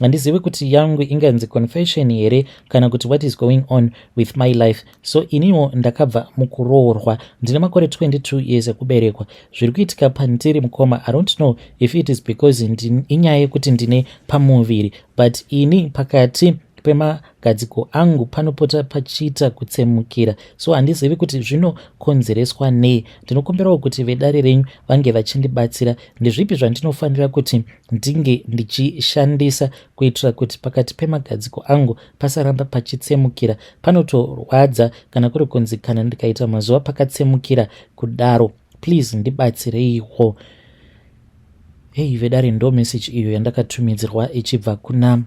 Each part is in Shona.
handizivi kuti yangu inganzi confession here kana kuti what is going on with my life so iniwo ndakabva mukuroorwa ndine makore 22 years ekuberekwa zviri kuitika pandiri mukoma i don't know if it is because inyaya yekuti ndine pamuviri but ini pakati pemagadziko angu panopota pachiita kutsemukira so handizivi kuti zvinokonzereswa nei ndinokumbirawo kuti vedare renyu vange vachindibatsira ndezvipi zvandinofanira kuti ndinge ndichishandisa kuitira kuti pakati pemagadziko angu pasaramba pachitsemukira panotorwadza kana kuri kunzi kana ndikaita mazuva pakatsemukira kudaro please ndibatsireiwo hei vedare ndo message iyo yandakatumidzirwa ichibva kuna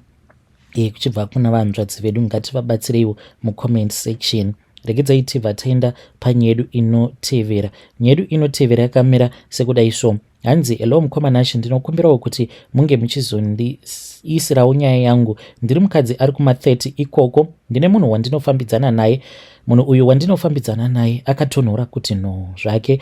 e, kuchibva kuna vanzvadzi vedu ngativabatsireiwo mucomment section Regedzai tibva taenda panyaya yedu inotevera. Nyaya yedu inotevera yakamira sekudai so hanzi hello mukoma nashe ndinokumbirawo kuti munge muchizondiisirawo nyaya yangu ndiri mukadzi ari kuma30 ikoko ndine munhu wandinofambidzana naye munhu uyu wandinofambidzana naye akatonhora kuti no zvake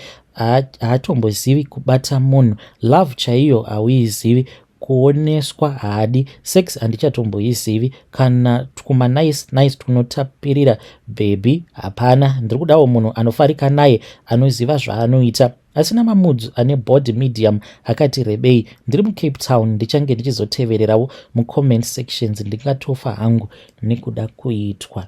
haatombozivi kubata munhu love chaiyo hauizivi kuoneswa haadi sex handichatomboizivi kana twuma nice nice twunotapirira bhebhi hapana ndiri kudawo munhu anofarika naye anoziva zvaanoita asina mamudzu ane body medium akati rebei ndiri mucape town ndichange ndichizotevererawo mucomment sections ndingatofa hangu nekuda kuitwa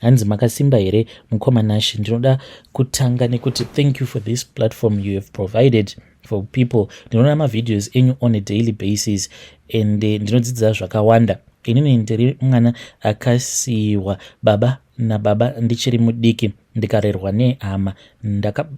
hanzi makasimba here mukoma nashe ndinoda kutanga nekuti thank you for this platform you have provided for people ndinoona mavideos enyu on a daily basis and eh, ndinodzidza zvakawanda inini ndiri mwana akasiyiwa baba nababa ndichiri mudiki ndikarerwa nehama ndaka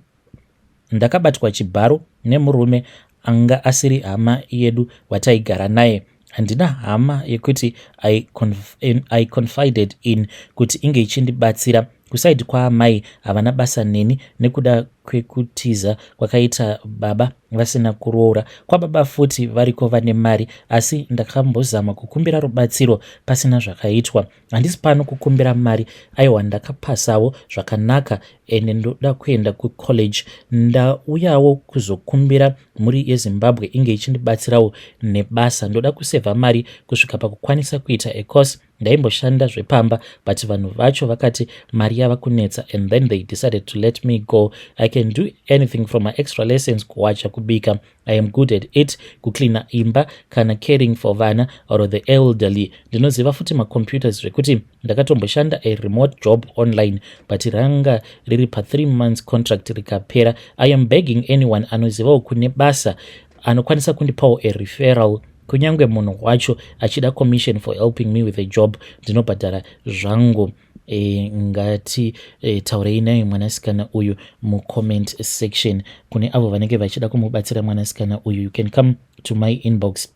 Ndakabatwa chibharo nemurume anga asiri hama yedu wataigara naye. Handina hama yekuti I, conf I confided in kuti inge ichindibatsira. Kusaidi kwaamai havana basa neni nekuda kwekutiza kwakaita baba vasina kuroora. Kwababa futi variko vane mari asi ndakambozama kukumbira rubatsiro pasina zvakaitwa. handisi pano kukumbira mari aiwa ndakapasawo zvakanaka ende ndoda kuenda kucollege ndauyawo kuzokumbira mhuri yezimbabwe inge ichindibatsirawo nebasa ndoda kusevha mari kusvika pakukwanisa kuita ecourse ndaimboshanda zvepamba but vanhu vacho vakati mari yava kunetsa and then they decided to let me go i can do anything from my extra lessons kuwacha kubika I am good at it kucleana imba kana caring for vana or the elderly ndinoziva futi macomputers zvekuti ndakatomboshanda a remote job online but ranga riri pathree months contract rikapera i am begging anyone anozivawo kune basa anokwanisa kundipawo a referral kunyange munhu wacho achida commission for helping me with a job ndinobhadhara zvangu E, ngati e, taurei naye mwanasikana uyu mucomment section kune avo vanenge vachida kumubatsira mwanasikana uyu you can come to my inbox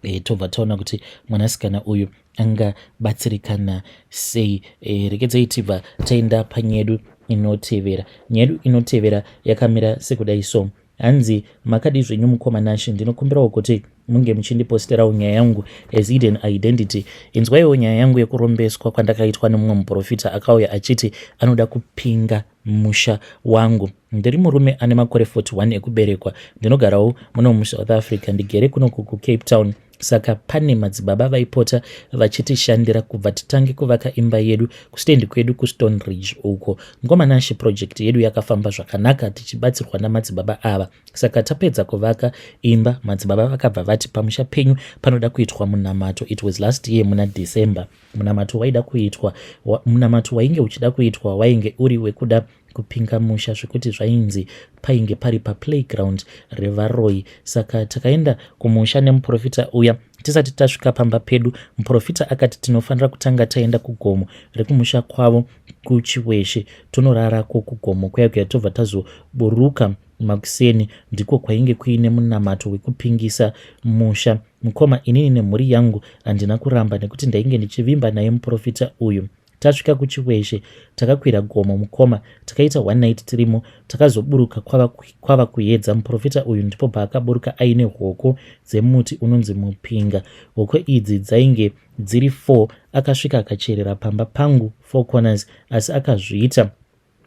e, tobva taona kuti mwanasikana uyu angabatsirikana sei e, rekedzai tibva taenda panyedu inotevera nyedu inotevera yakamira sekudai so Hanzi makadii zvenyu mukoma Nashy ndinokumbirawo kuti munge muchindiposterawo nyaya yangu as hidden identity. Inzwaiwo nyaya yangu yekurombeswa kwandakaitwa nemumwe muprofita akauya achiti anoda kupinga musha wangu. Ndiri murume ane makore 41 ekuberekwa. Ndinogarawo muno muSouth Africa. Ndigere kunoku kuCape Town. saka pane madzibaba vaipota vachitishandira kubva titange kuvaka imba yedu kustendi kwedu kustone ridge uko mukomana ashe project yedu yakafamba zvakanaka tichibatsirwa namadzibaba ava saka tapedza kuvaka imba madzibaba vakabva vati pamusha penyu panoda kuitwa munamato it was last year muna december munamato waida kuitwa wa, munamato wainge uchida kuitwa wainge uri wekuda kupinga musha zvekuti zvainzi painge pari paplayground revaroyi saka takaenda kumusha nemuprofita uya tisati tasvika pamba pedu muprofita akati tinofanira kutanga taenda kugomo rekumusha kwavo kuchiweshe tonorarako kugomo kuya kuya tobva tazoburuka makuseni ndiko kwainge kuine munamato wekupingisa musha mukoma inini nemhuri yangu handina kuramba nekuti ndainge ndichivimba naye muprofita uyu Tasvika kuChiweshe takakwira gomo mukoma takaita one night tirimo takazoburuka kwava, kwava kuyedza muprofita uyu ndipo paakaburuka aine hoko dzemuti unonzi mupinga. Hoko idzi dzainge dziri four akasvika akacherera pamba pangu four corners asi akazviita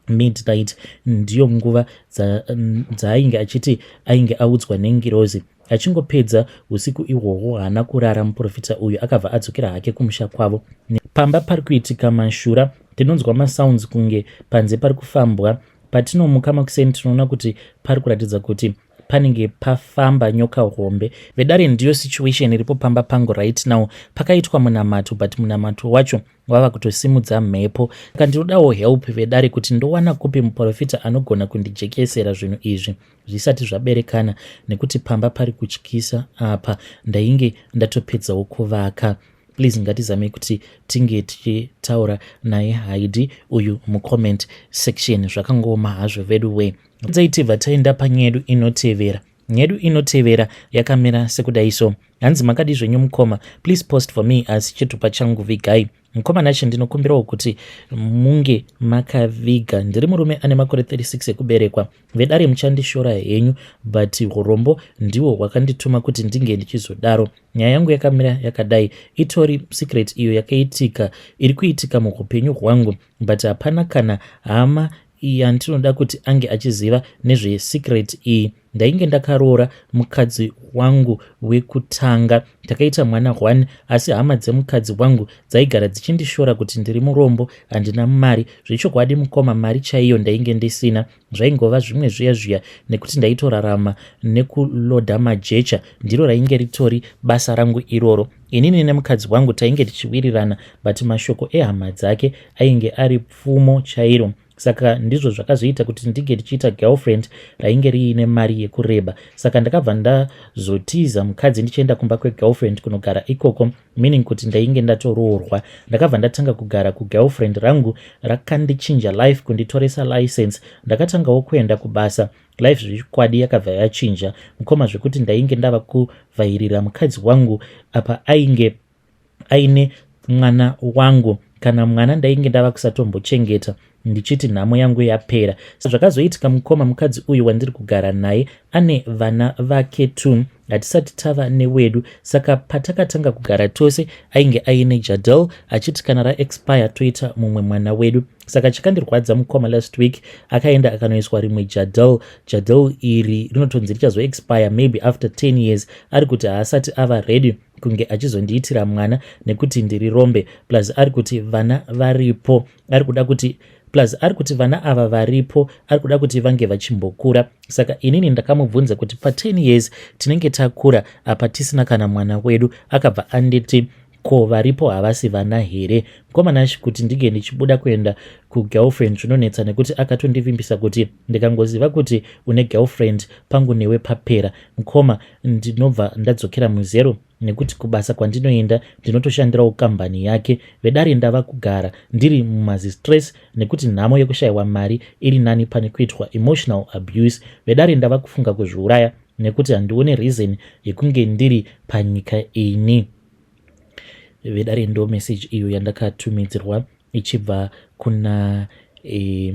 midnight ndiyo nguva dzaainge achiti ainge audzwa nengirozi achingopedza usiku ihwohwo haana kurara muprofita uyu akabva adzokera hake kumusha kwavo pamba pari kuitika mashura tinonzwa masounds kunge panze pari kufambwa patinomuka makuseni tinoona kuti pari kuratidza kuti panenge pafamba nyoka hombe vedare ndiyo situation iripo pamba pangu right now pakaitwa munamato but munamato wacho wava kutosimudza mhepo ka ndinodawo help vedare kuti ndowana kupi muprofita anogona kundijekesera zvinhu izvi zvisati zvaberekana nekuti pamba pari kutyisa apa ndainge ndatopedzawo kuvaka please ngatizame kuti tinge tichitaura naye haidi uyu mucomment section zvakangooma hazvo vedu wee Dai tibva taenda panyedu inotevera. Nyedu inotevera yakamira sekudai so. Hanzi makadi zvenyu mukoma, please post for me asi chitupa changu vigai. Mukoma Nashe ndinokumbirawo kuti munge makaviga. Ndiri murume ane makore 36 ekuberekwa. Vedare muchandishora henyu but urombo ndiwo hwakandituma kuti ndinge ndichizodaro. Nyaya yangu yakamira yakadai. Itori secret iyo yakaitika iri kuitika muhupenyu hwangu but hapana kana hama iyi andinoda kuti ange achiziva nezvesecret iyi ndainge ndakaroora mukadzi wangu wekutanga takaita mwana one asi hama dzemukadzi wangu dzaigara dzichindishora kuti ndiri murombo handina mari zvechokwadi mukoma mari chaiyo ndainge ndisina zvaingova zvimwe zviya zviya nekuti ndaitorarama nekuloda majecha ndiro rainge ritori basa rangu iroro inini nemukadzi wangu tainge tichiwirirana but mashoko ehama dzake ainge ari pfumo chairo saka ndizvo zvakazoita kuti ndinge ndichiita girlfriend rainge riine mari yekureba saka ndakabva ndazotiza mukadzi ndichienda kumba kwegirlfriend kunogara ikoko meaning kuti ndainge ndatoroorwa ndakabva ndatanga kugara kugirlfriend rangu rakandichinja life kunditoresa license ndakatangawo kuenda kubasa life zvechikwadi yakabva yachinja mukoma zvekuti ndainge ndava kuvhairira mukadzi wangu apa ainge aine mwana wangu kana mwana ndainge ndava kusatombochengeta ndichiti nhamo yangu yapera zvakazoitika mukoma mukadzi uyu wandiri kugara naye ane vana vake two hatisati tava newedu saka patakatanga kugara tose ainge aine jadel achiti kana raexpire toita mumwe mwana wedu saka chakandirwadza mukoma last week akaenda akanoiswa rimwe jadel jadel iri rinotonzi richazoexpire maybe after 10 years ari kuti haasati ava ready kunge achizondiitira mwana nekuti ndiri rombe plus ari kuti vana varipo ari kuda kuti plus ari kuti vana ava varipo ari kuda kuti vange vachimbokura saka inini ndakamubvunza kuti pa10 years tinenge takura apa tisina kana mwana wedu akabva anditi ko varipo havasi vana here mkomanashi kuti ndinge ndichibuda kuenda kugirlfriend zvinonetsa nekuti akatondivimbisa kuti ndikangoziva kuti une girlfriend pangu newe papera mkoma ndinobva ndadzokera muzero nekuti kubasa kwandinoenda ndinotoshandirawo kambani yake vedare ndava kugara ndiri mumazistress nekuti nhamo yekushayiwa mari iri nani pane kuitwa emotional abuse vedare ndava kufunga kuzviuraya nekuti handione reason yekunge ndiri panyika ini vedare ndo message iyo yandakatumidzirwa ichibva kuna e,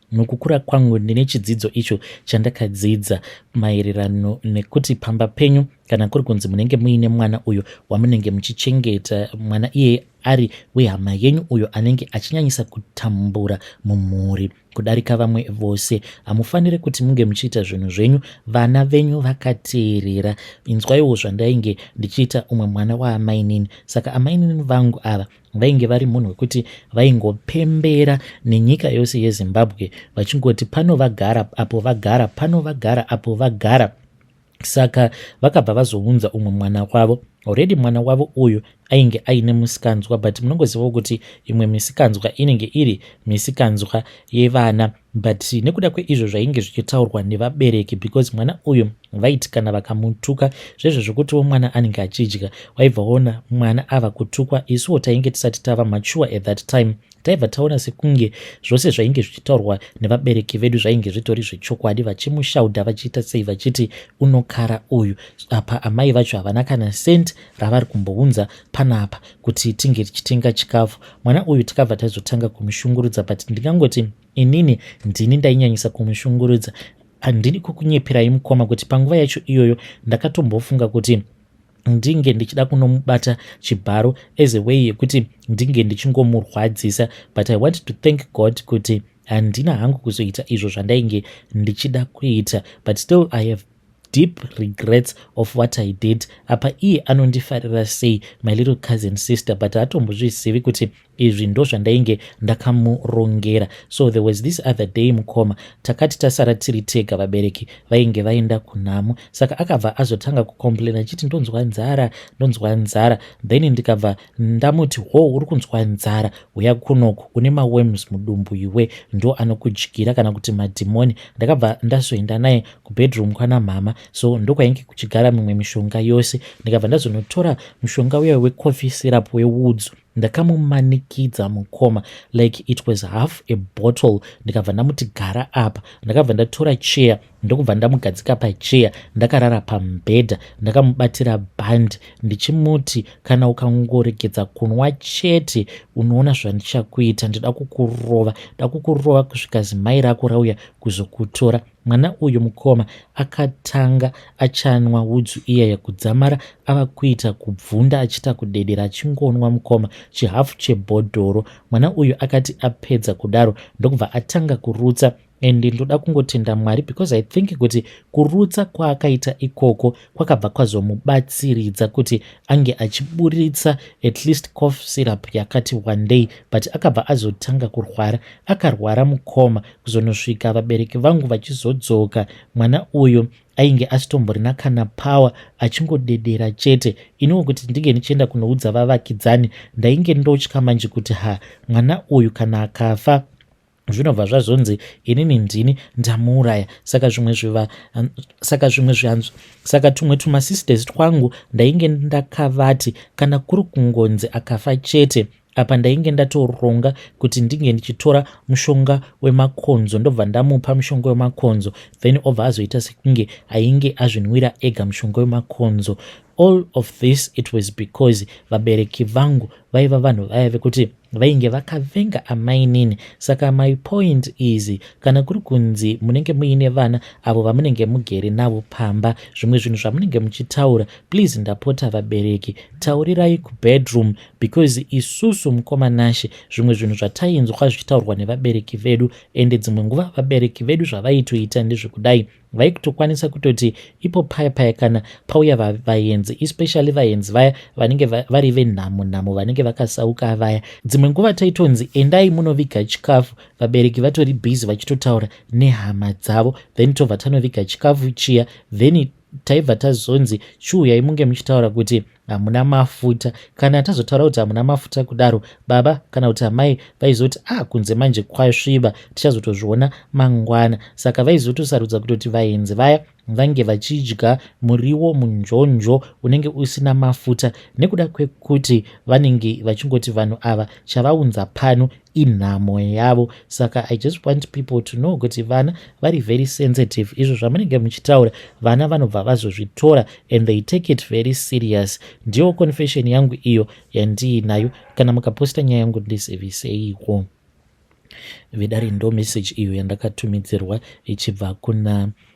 Nokukura kwangu ndine chidzidzo icho chandakadzidza maererano nekuti pamba penyu kana kuri kunzi munenge muine mwana uyo wamunenge muchichengeta mwana iye ari wehama yenyu uyo anenge achinyanyisa kutambura mumhuri kudarika vamwe vose hamufanire kuti munge muchiita zvinhu zvenyu vana venyu vakateerera inzwaiwo zvandainge ndichiita umwe mwana waamainini saka amainini vangu ava vainge vari munhu wekuti vaingopembera nenyika yose yezimbabwe vachingoti pano vagara apo vagara pano vagara apo vagara saka vakabva vazounza umwe mwana wavo already mwana wavo uyu ainge aine musikanzwa but munongozivawo kuti imwe misikanzwa inenge iri misikanzwa yevana But nekuda kweizvo zvainge zvichitaurwa nevabereki because mwana uyu vaiti kana vakamutuka zvezvo zvokutiwo mwana anenge achidya waibva waona mwana ava kutukwa isuwo tainge tisati tava mature at that time taibva taona sekunge zvose zvainge zvichitaurwa nevabereki vedu zvainge zvitori zvechokwadi vachimushaudha vachiita sei vachiti unokara uyu apa amai vacho havana kana sent ravari kumbounza panapa kuti tinge tichitenga chikafu mwana uyu tikabva taizotanga kumushungurudza but ndingangoti inini ndini ndainyanyisa kumushungurudza handidi kukunyeperai mukoma kuti panguva yacho iyoyo ndakatombofunga kuti ndinge ndichida kunomubata chibharo as a way yekuti ndinge ndichingomurwadzisa but i want to thank god kuti handina hangu kuzoita izvo zvandainge ndichida kuita but still i have deep regrets of what i did apa iye anondifarira sei my little cousin sister but haatombozvizivi kuti izvi ndo zvandainge ndakamurongera so there was this other day mukoma takati tasara tiri tega vabereki vainge vaenda kunhamo saka akabva azotanga kucomplaina achiti ndonzwa nzara ndonzwa nzara then ndikabva ndamuti ho uri kunzwa nzara huya kunoku une mawems mudumbu iwe ndo anokudyira kana kuti madhimoni ndakabva ndazoenda naye kubedroom kwana mhama so ndokwainge kuchigara mimwe mishonga yose ndikabva ndazonotora mushonga uya wecoffee syrup wewoods ndakamumanikidza mukoma like it was half a bottle ndikabva ndamuti gara apa ndakabva ndatora cheya ndokubva ndamugadzika pacheya ndakarara pamubhedha ndakamubatira bhandi ndichimuti kana ukangoregedza kunwa chete unoona zvandichakuita ndida kukurova da kukurova kusvika zimai rako rauya kuzokutora Mwana uyu mukoma akatanga achanwa udzu iyeye kudzamara ava kuita kubvunda achiita kudedera achingonwa mukoma chihafu chebhodhoro. Mwana uyu akati apedza kudaro ndokubva atanga kurutsa and ndoda kungotenda Mwari because I think kuti kurutsa kwaakaita ikoko kwakabva kwazomubatsiridza kuti ange achiburitsa at least cof syrup yakati wandei but akabva azotanga kurwara akarwara mukoma kuzonosvika vabereki vangu vachizodzoka mwana uyu ainge asitomborina kana power achingodedera chete iniwo kuti ndinge ndichienda kunoudza vavakidzani ndainge ndotya manje kuti ha mwana uyu kana akafa zvinobva zvazonzi inini ndini ndamuuraya saka zvimwe zviva saka zvimwe zvianzvi saka tumwe tumasisters twangu ndainge ndakavati kana kuri kungonzi akafa chete apa ndainge ndatoronga kuti ndinge ndichitora mushonga wemakonzo ndobva ndamupa mushonga wemakonzo then obva azoita sekunge ainge azvinwira ega mushonga wemakonzo all of this it was because vabereki vangu vaiva vanhu vaya vekuti vainge vakavenga amainini saka my point is kana kuri kunzi munenge muine vana avo vamunenge mugere navo pamba zvimwe zvinhu zvamunenge muchitaura please ndapota vabereki taurirai kubedroom because isusu mukoma nashe zvimwe zvinhu zvatainzwa zvichitaurwa nevabereki vedu ende dzimwe nguva vabereki vedu zvavaitoita ndezvekudai vaikutokwanisa kutoti ipo paya paya kana pauya vaenzi especially vaenzi vaya vanenge vari venhamo nhamo vanenge vakasauka vaya dzimwe nguva taitonzi endai munoviga chikafu vabereki vatori busy vachitotaura nehama dzavo then tobva tanoviga chikafu chiya then taibva tazonzi chiuyai munge muchitaura kuti hamuna mafuta kana tazotaura kuti hamuna mafuta kudaro baba kana kuti amai vaizoti ah kunze manje kwasviba tichazotozviona mangwana saka vaizotosarudza kutoti vaenzi vaya vange vachidya muriwo munjonjo unenge usina mafuta nekuda kwekuti vanenge vachingoti vanhu ava chavaunza pano inhamo yavo saka i just want people to know kuti vana vari very sensitive izvo zvamunenge muchitaura vana vanobva vazozvitora and they take it very serious ndiyo confession yangu iyo yandiinayo kana mukaposta nyaya yangu ndiziviseiko vedare ndo message iyo yandakatumidzirwa ichibva kuna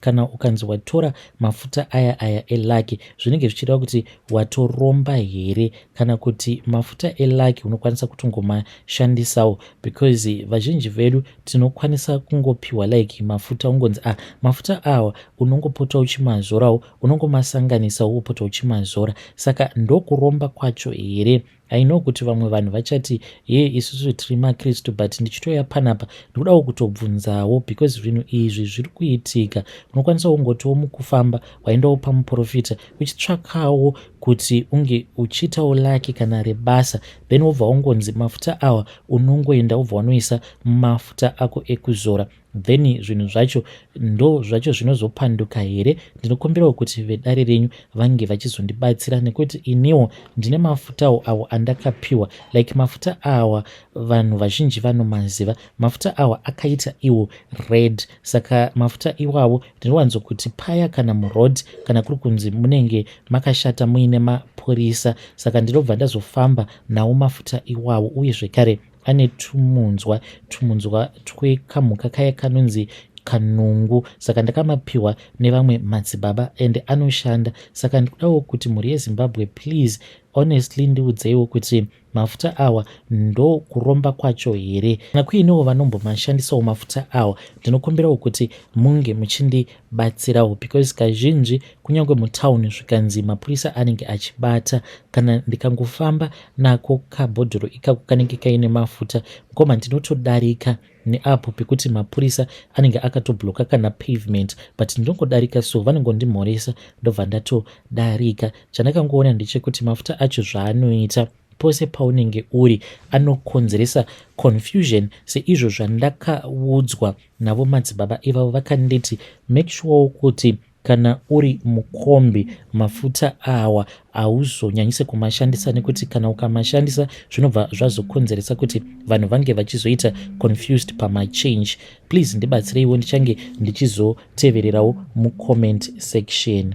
kana ukanzi watora mafuta aya aya elaki zvinenge zvichireva kuti watoromba here kana kuti mafuta elaki unokwanisa kutongomashandisawo because vazhinji vedu tinokwanisa kungopiwa like mafuta ungonzi ah mafuta awa unongopota uchimazorawo unongomasanganisawo wopota uchimazora saka ndokuromba kwacho here I know kuti vamwe vanhu vachati hee isusu tiri makristu but ndichitouya panapa ndikudawo kutobvunzawo because zvinhu izvi zviri kuitika unokwanisa kungotiwo mukufamba waendawo pamuprofita uchitsvakawo kuti unge uchiitawo laki kana rebasa then wobva wongonzi mafuta awa unongoenda wobva wanoisa mafuta ako ekuzora then zvinhu zvacho ndo zvacho zvinozopanduka here ndinokumbirawo kuti vedare renyu vange vachizondibatsira nekuti iniwo ndine mafutawo awo andakapiwa like mafuta awa vanhu vazhinji vanomaziva mafuta awa akaita iwo red saka mafuta iwawo ndinowanzo kuti paya kana muroad kana kuri kunzi munenge makashata muine mapurisa saka ndinobva ndazofamba nawo mafuta iwawo uye zvekare ane tumunzwa tumunzwa twekamhuka kaya kanonzi kanungu saka ndakamapiwa nevamwe madzibaba and anoshanda saka ndikudawo kuti mhuri yezimbabwe please honestly ndiudzeiwo kuti mafuta awa ndo kuromba kwacho here kana kuinewo vanombomashandisawo mafuta awa ndinokumbirawo kuti munge muchindi batsirawo because kazhinji kunyange mutown zvikanzi mapurisa anenge achibata kana ndikangofamba nako kabhodhoro ikako kanenge kaine mafuta mkoma ndinotodarika neapo pekuti mapurisa anenge akatobloka kana pavement but ndinongodarika so vanongondimhoresa ndobva ndatodarika chandakangoona ndechekuti mafuta acho zvaanoita pose paunenge uri anokonzeresa confusion seizvo zvandakaudzwa Navo madzibaba ivavo vakanditi make sure kuti kana uri mukombi mafuta awa hauzonyanyise kumashandisa nekuti kana ukamashandisa zvinobva zvazokonzeresa kuti vanhu vange vachizoita confused pamachange please ndibatsireiwo ndichange ndichizotevererawo mucomment section